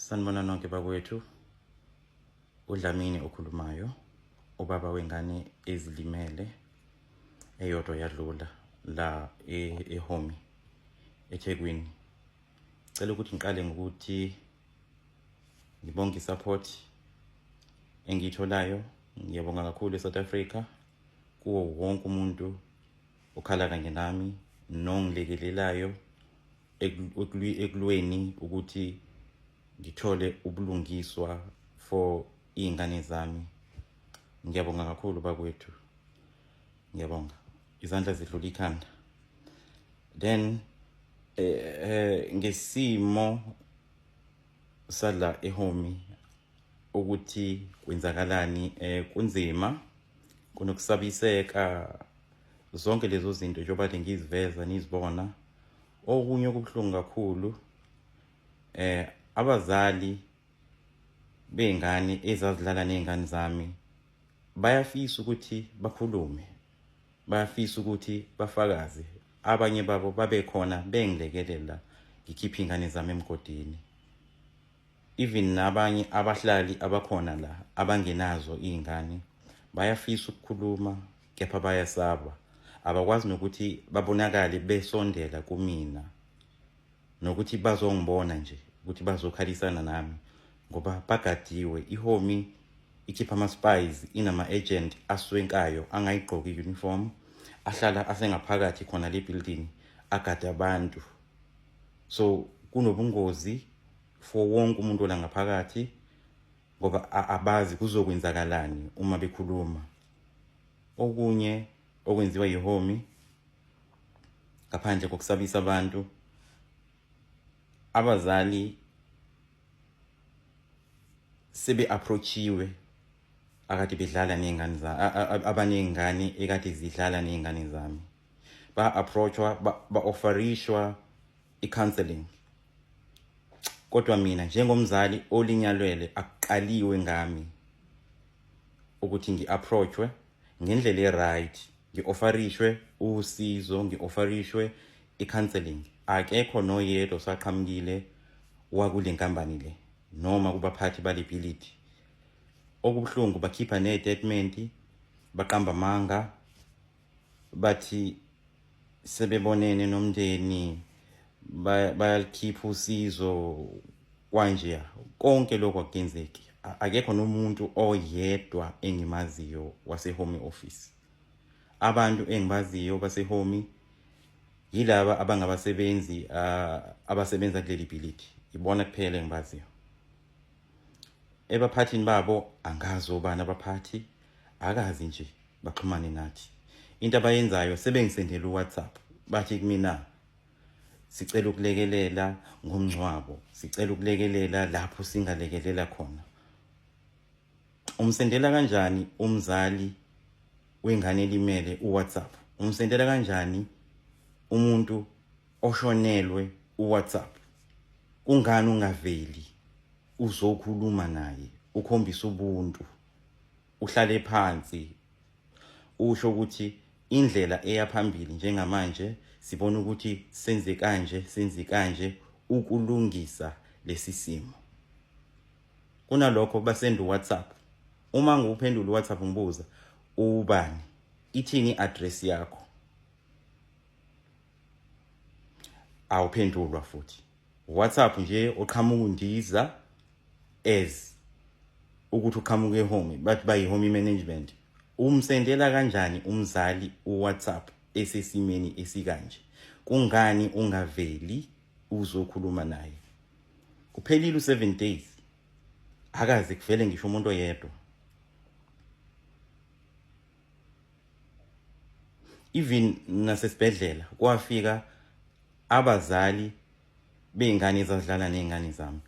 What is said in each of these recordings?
Sanibona nonke bakwethu. UDlamini okhulumayo, ubaba wengane ezilimele eyodwa yadlula la e- eHomi eThekwini. Cela ukuthi ngiqale ngokuthi ngibonge i-support engiyitholayo. Ngiyabonga kakhulu eSouth Africa kuwo wonke umuntu okhala kanye nami nongilekelelayo ekulweni ukuthi ngithole ubulungiswa for iy'ngane zami ngiyabonga kakhulu bakwethu ngiyabonga izandla zidlula ikhanda then eh, eh ngesimo sadla ehomi ukuthi kwenzakalani eh kunzima kunokusabiseka zonke lezo zinto njengoba le ngiziveza nizibona okunye okubuhlungu kakhulu eh abazali bey'ngane ezazidlala ney'ngane zami bayafisa ukuthi bakhulume bayafisa ukuthi bafakaze abanye babo babekhona bengilekelela ngikhiphe iy'ngane zami emgodini even nabanye abahlali abakhona la abangenazo iy'ngane bayafisa ukukhuluma kepha bayasaba abakwazi nokuthi babonakale besondela kumina nokuthi bazongibona nje ukuthi bazokhalisana nami ngoba bagadiwe ihomi ikhipha ama-spies inama-agent aswenkayo angayigqoki i-uniform ahlala asengaphakathi khona le building agade abantu so kunobungozi for wonke umuntu ola ngaphakathi ngoba abazi kuzokwenzakalani uma bekhuluma okunye okwenziwa yihomi ngaphandle kokusabisa abantu abazali sebe-approachiwe akade bedlala ney'ngane abaney'ngane ekade zidlala ney'ngane zami ba-approachwa ba-offerishwa i-counseling kodwa mina njengomzali olinyalwele akuqaliwe ngami ukuthi ngi-approachwe ngendlela e-right ngi-offerishwe usizo ngi-offerishwe i-counseling akekho noyedwa osaqhamukile wakule nkampani le noma kubaphathi bale bhilidi okubuhlungu bakhipha ney'tatimenti baqamba amanga bathi sebebonene nomndeni bayalikhipha usizo kwanje konke lokho akugenzeki akekho nomuntu oyedwa engimaziyo wasehome office abantu engibaziyo basehome yilaba abangabasebenzi abasebenza kuleli bhilidi ibona kuphela engibaziyo ebaphathini babo angazi obani abaphathi akazi nje baxhumane nathi into abayenzayo sebengisendela uwhatsapp bathi kumina sicela ukulekelela ngomngcwabo sicela ukulekelela lapho singalekelela khona umsendela kanjani umzali wengane elimele uwhatsapp umsendela kanjani umuntu oshonelwe uwhatsapp kungani ungaveli uzokhuluma naye ukhombisa ubuntu uhlale phansi usho ukuthi indlela eya phambili njengamanje sibona ukuthi senze kanje senze kanje ukulungisa lesi simo kunalokho basenda uWhatsApp uma ngiwuphendula uWhatsApp ngibuza ubani ithini address yakho awuphendulwa futhi WhatsApp nje oqhamuka undiza as ukuthi uqhamuka ehomi bathi bayi-homi management umsendela kanjani umzali uwhatsapp esesimeni esikanje kungani ungaveli uzokhuluma naye kuphelile u-seven days akaze kuvele ngisho umuntu oyedwa even nasesibhedlela kwafika abazali bey'ngane ezazidlala ney'ngane zami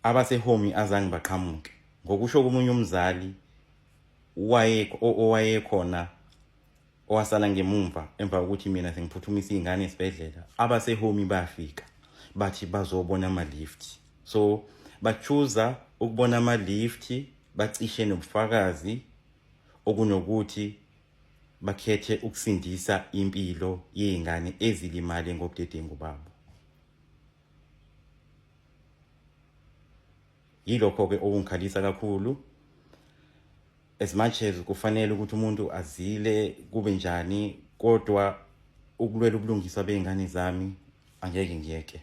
abasehomi azange baqhamuke ngokusho komunye umzali owayekhona owasala ngemumva emva kokuthi mina sengiphuthumisa iy'ngane esibhedlela abasehomi bafika bathi bazobona ama-lift so bachuza ukubona ama-lift bacishe nobufakazi okunokuthi bakhethe ukusindisa impilo yezingane ezilimale ngobudedengu babo yilokho ke okungikhalisa kakhulu as much as kufanele ukuthi umuntu azile kube njani kodwa ukulwela ubulungiswa bey'ngane zami angeke ngiyeke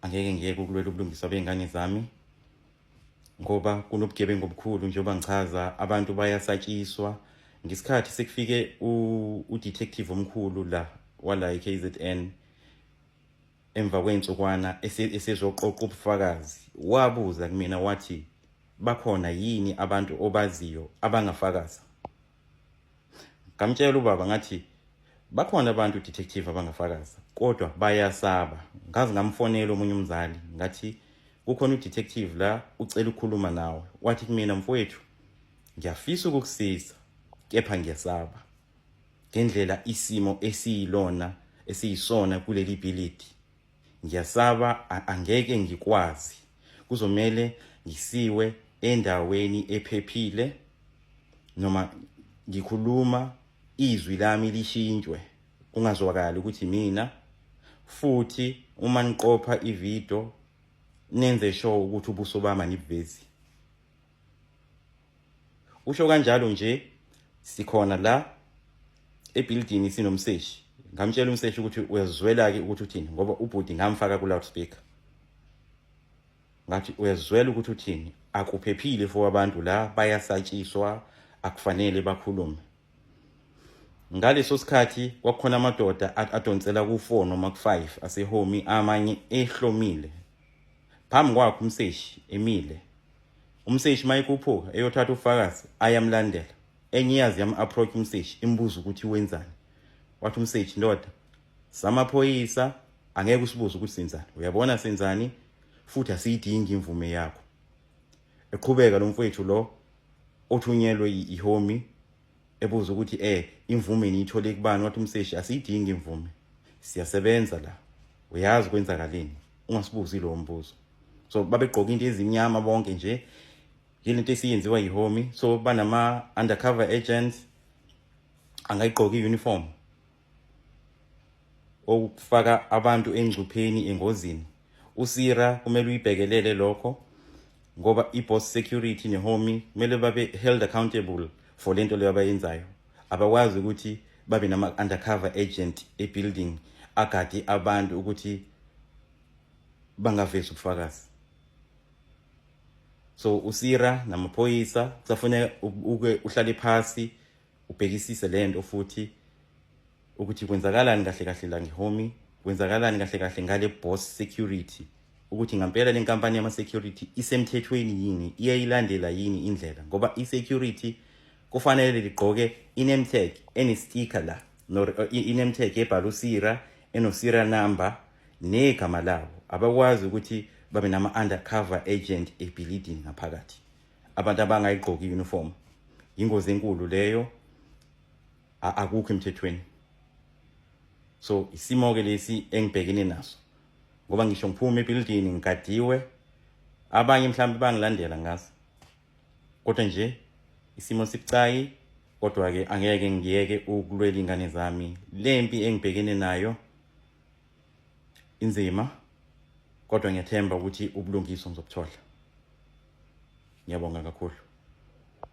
angeke ngiyeke ukulwela ubulungiswa bey'ngane zami ngoba kunobugebengu obukhulu njengoba ngichaza abantu bayasatshiswa ngesikhathi sekufike udetective omkhulu la wala i-kzn Emva kwey'nsukwana esezoqoqa ubufakazi, wabuza kumina wathi, Bakhona yini abantu obaziyo abangafakaza? Ngamtshela ubaba ngathi, Bakhona abantu detective abangafakaza, kodwa bayasaba. Ngaze ngamfonela omunye umzali ngathi, Kukhona udetective la ucela ukukhuluma nawe. Wathi kumina, Mfowethu, ngiyafisa ukukusiza, kepha ngiyasaba. ngendlela isimo esiyilona esiyisona kuleli bhilidi ngiyasaba angeke ngikwazi kuzomele ngisiwe endaweni ephephile noma ngikhuluma izwi lami lishintshwe kungazwakali ukuthi mina futhi uma niqopha ivideo nenze sure ukuthi ubuso bami anibuvezi Usho kanjalo nje sikhona la ebuilding sinomseshi. Ngamtshela umseshi ukuthi uyazwela ke ukuthi uthini ngoba ubhuti ngamfaka ku loudspeaker. Ngathi uyazwela ukuthi uthini akuphephile for abantu la bayasatshiswa akufanele bakhulume. Ngaleso sikhathi kwakukhona amadoda adonsela ku 4 noma ku 5 asehomi amanye ehlomile phambi kwakhe umseshi emile umseshi mayikhuphuka eyothatha ubufakazi ayamlandela enye iyazi yam-approach umseshi imbuza ukuthi wenzani wathi umseshi ndoda samaphoyisa angeke usibuze ukuthi senzani uyabona senzani futhi asiyidingi imvume yakho eqhubeka lo mfowethu lo othunyelwe ihomi ebuza ukuthi eh imvume niyithole kubani wathi umseshi asiyidingi imvume siyasebenza la uyazi kwenzakaleni ungasibuzi lowo mbuzo so babegqoka into ezimnyama bonke nje yilento esiyenziwa yihomi so banama-undercover agents angayigqoki i-uniform okufaka abantu engcupheni engozini usira kumele uyibhekelele lokho ngoba i-boss security nehomi kumele babe held accountable for le nto leyo abayenzayo abakwazi ukuthi babe nama-undercover agent e-building agade abantu ukuthi bangavezi ubufakazi so usira namaphoyisa kusafuneka uke uhlale phasi ubhekisise le nto futhi ukuthi kwenzakalani kahle kahle la ngehomi kwenzakalani kahle kahle ngale boss security ukuthi ngampela le nkampani yama-security isemthethweni yini iyayilandela yini indlela ngoba i-security kufanele ligqoke inemtag enestika la eh, inemtag ebhala usira enosira number negama lawo abakwazi ukuthi babe nama-undercover agent ebhilidini ngaphakathi abantu abangayigqoki uniform ingozi enkulu leyo akukho emthethweni so isimo ke lesi engibhekene naso ngoba ngisho ngiphuma ebuilding ngigadiwe abanye mhlawumbe bangilandela ngazi kodwa nje isimo sibucayi kodwa-ke angeke ngiyeke ukulwela iy'ngane zami le mpi engibhekene nayo inzima kodwa ngiyathemba ukuthi ubulungiswa ngizobuthola ngiyabonga kakhulu